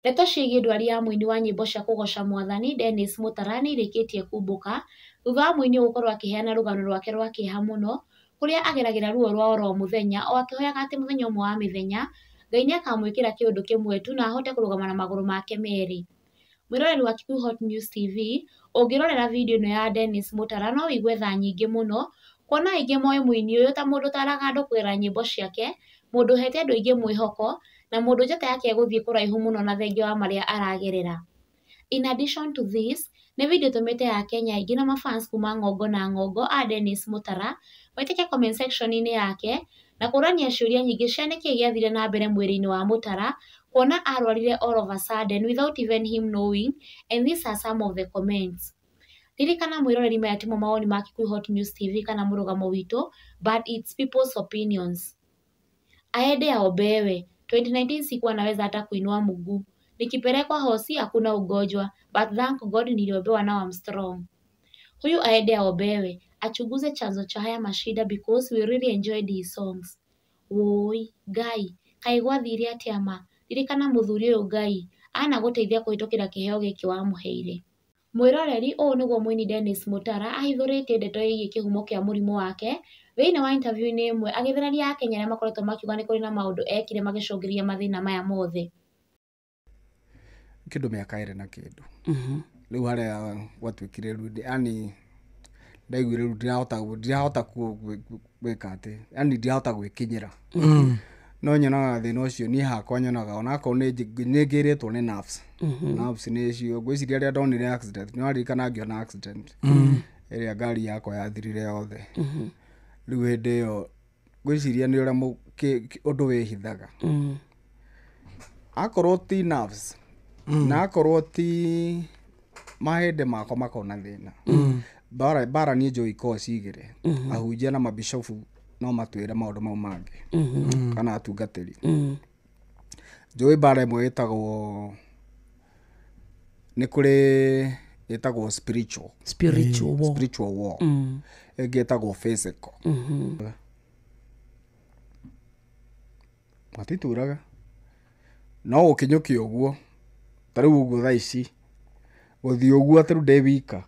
Ndeto ciĩgiĩ ndwari ya mũini wa nyĩmbo cia kũgoca Mwathani Dennis Mũtara nĩ irĩkĩtie kumbũka, thutha wa mũini ũyũ gũkorwo akĩheana rũgano rwake rwa kĩeha mũno, kũrĩa ageragĩra ruo rwa oro mũthenya, o akĩhoyaga atĩ mũthenya ũmwe wa mĩthenya, Ngai nĩ akamwĩkĩra kĩũndũ kĩmwe tu na ahote kũrũgama na magũrũ make merĩ. Mwĩroreri wa Kikuyu Hot News TV, ũngĩrorera video ĩno ya Dennis Mũtara no wĩigue tha nyingĩ mũno, kuona aingĩ moĩ mũini ũyũ ta mũndũ ũtaraga andũ kũgerera nyĩmbo ciake, mũndũ ũhete andũ aingĩ mwĩhoko, na mũndũ njata yake ĩgũthiĩ kũraihu mũno na thengia wa marĩa aragerera. In addition to this, nĩ video ĩtũmĩte akenya aingĩ na ma fans kuma ng'ongo na ng'ongo a Dennis Mũtara maitĩke comment section -inĩ yake na kũrania ciũria nyingĩ cia nĩkĩ gĩathire na mbere mwĩrĩ-inĩ wa Mũtara kuona arwarire all of a sudden without even him knowing and these are some of the comments. Ririkana mwĩroreri maya timo mawoni ma Kikuyu Hot News TV kana mũrũgamo witũ but it's people's opinions. Aende aombewe. 2019 sikuwa naweza hata kuinua mguu. Nikipelekwa hosi hakuna ugonjwa. But thank God niliombewa now I'm strong. Huyu aende aombewe. Achunguze chanzo cha haya mashida because we really enjoyed his songs. Woi, Ngai, kaĩ gwathire atĩa ma? Ririkana mũthuri ũyũ Ngai anagũteithia kũhĩtũkĩra kĩheo gĩkĩ wamũheire. Mwĩroreri, Ũũ nĩguo mũini Dennis Mutara ahithũrĩtie ndeto ĩgiĩ kĩhumo kĩa mũrimũ wake thĩinĩ wa interview -inĩ ĩmwe agĩthereria akenya arĩa makoretwo makiuga nĩ kũrĩ na maũndũ ekire magĩcũngĩrĩria mathĩna maya mothe. kĩndũ mĩaka ĩrĩ na kĩndũ rĩu harĩa gwatuĩkire rĩu ndĩ- yani ndaiguire rĩu ndirahota ndirahota ku- ku- gwĩka atĩ yani ndirahota gwĩkinyĩra no nyonaga thĩna ũcio niĩ hakwa nyonaga onakorwo nĩ njĩ- nĩ ngĩrĩtwo nĩ nerves nerves nĩ cio ngwĩciria rĩrĩa ndonire accident nĩ waririkana ngĩona accident ĩrĩa ngari yakwa yathirire yothe rĩu hĩndĩ ĩyo ngwĩciria nĩ ũrĩa mũ- kĩ- kĩ- ũndũ wĩhithaga akorwo ti nerves na akorwo ti mahĩndĩ makwa makona thĩna bara bara niĩ njũĩ ikoragwo cigĩrĩ ahunjia na mabishofu no matwĩre maũndũ mau mangĩ kana atungatĩri njũĩ bara ĩmwe ĩtagwo nĩ kũrĩ ĩtagwo spiritual spiritual war spiritual war ĩngĩ ĩtagwo physical Matituraga, no gũkinyũkia ũguo, ta rĩu ũguo thaa ici, gũthiĩ ũguo atĩ rĩu ndĩ wika,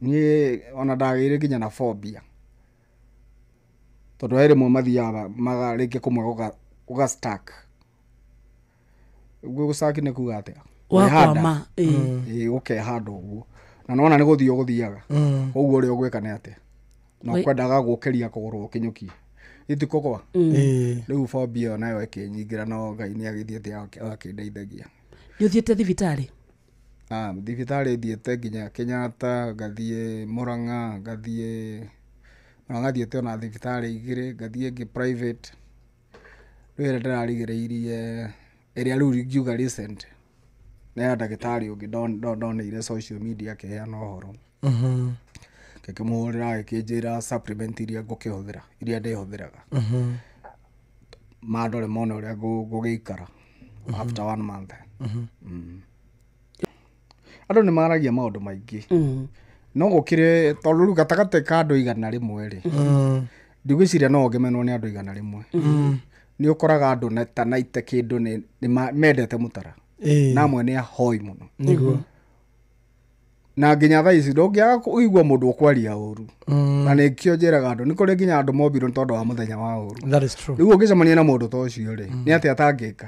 niĩ ona ndagĩire nginya na phobia, tondũ he rĩmwe mathiaga rĩngĩ kũmwe gũga stuck. Ũguo gũ stuck nĩ kuga atĩa? Gũkeha ĩĩ gũkeha handũ ũguo, na nĩ wona nĩ gũthiĩ ũgũthiaga, ũguo ũrĩa ũgwĩka nĩ atĩ, na Wai- kwendaga gũkĩria kũgũrwo kĩnyũki itikũgwa Eh, rĩu bobi ĩyo nayo ĩkĩnyingĩra no ngai nĩ agĩthiĩte agakĩndeithagia nĩ ũthiĩte thibitarĩ Ah, thibitarĩ thiĩte nginya kenyatta ngathiĩ mũrang'a ngathiĩ na ngathiĩte ona thibitarĩ igĩrĩ ngathiĩ ĩngĩ private rĩu ĩrĩa ndĩrarigĩrĩirie ĩrĩa rĩu ingiuga recent nĩ ya ndagĩtarĩ ũngĩ ndon- ndon- ndoneire social media akĩheana ũhoro ngĩkĩmũhũrĩra agĩkĩnjĩra supplement iria ngũkĩhũthĩra iria ndĩhũthĩraga mandore mona ũrĩa ngũ- ngũgĩikara after one month Mm. andũ nĩ maragia maũndũ maingĩ Mm. no gũkĩrĩ tondũ rĩu gatagatĩ ka andũ igana rĩmwe rĩ ndigwĩciria no ngemenwo nĩ andũ igana rĩmwe nĩ ũkoraga andũ na- ta naite kĩndũ nĩ- nĩ ma- mendete mũtara Ĩĩ. na amwe nĩ ahoi mũno Nĩguo. na nginya thaa ici ndũngĩaga kũigua mũndũ ũkwaria ũru Mm. na nĩkĩo njĩraga andũ nĩ kũrĩ nginya andũ mombirwo nĩ tondũ wa mũthenya wa ũru That is true. rĩu ũngĩcemania na mũndũ ta ũcio rĩ nĩ atĩ atangĩka